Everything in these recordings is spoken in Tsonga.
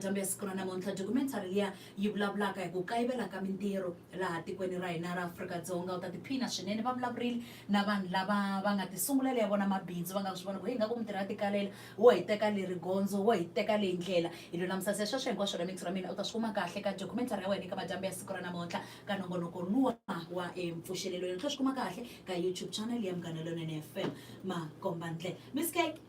Kambe siku ra namuntlha documentary liya yi vulavulaka hi ku kayivela ka mintirho laha tikweni ra hina ra Afrika-Dzonga u ta tiphina swinene va vulavurile na vanhu lava va nga tisungulela ya vona mabindzu va nga swi vona ku heyi nga ku mintirho ya tikalela wo hi teka leri gondzo wo hi teka leyi ndlela hi lulamusa se sweswo hinkwaswo ra mintsu ra mina u ta swi kuma kahle ka documentary ya wena eka madyambu ya siku ra namuntlha ka nongonoko luwa wa empfuxelelo yena tlhela swi kuma kahle ka youtube channel ya munghana lonene fm makombandle miss cake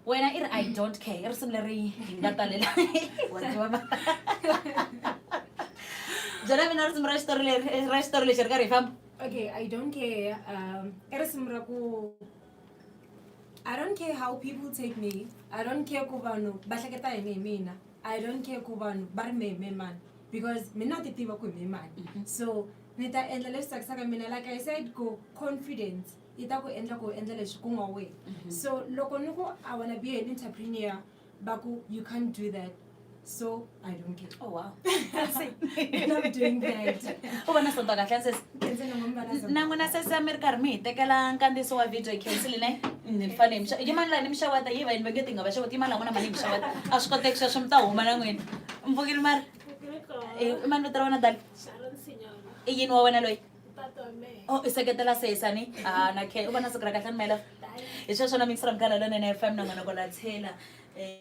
wena i ri i don't care i risimu leri hi nga talela byela mina risimu ra xitori leri eh, ra xitori lexi ri karhi hi famba okay i don't care um i risimu ra ku i don't care how people take me i don't care ku vanhu va hleketa yini hi mina i don't care ku vanhu va ri me hi me mani because mina ti tiva ku hi me mani mhm. so ni ta endla leswi tsakisaka mina like i said ku confidence yi ta ku endla ku u endla leswi ku nga wena so loko ni ku i wanna be an entrepreneur va ku you can't do that so i don't care Oh, wow. And I'm doing that u vona swo twa kahle sesi Kenze na mama na zona. na n'wina sesi a mi ri karhi mi hi tekela nkandziyiso wa video khensile ne ni fane hi mi xa- yi mani laha ni mi xavata yi va yini va nge ti nga va xavata yi mani laha n'wina mani hi mi xavata a swi koteki sweswo mi ta huma na n'wina mpfukile mari i mani vito ra wena dali Sharon Sinyona. i yini wa wena loyi Oh, i seketela sesani ah, na khe u va na siku ra kahle ni mela hi sweswo na mixra mkhala lonene fm na n'wana kola tshela um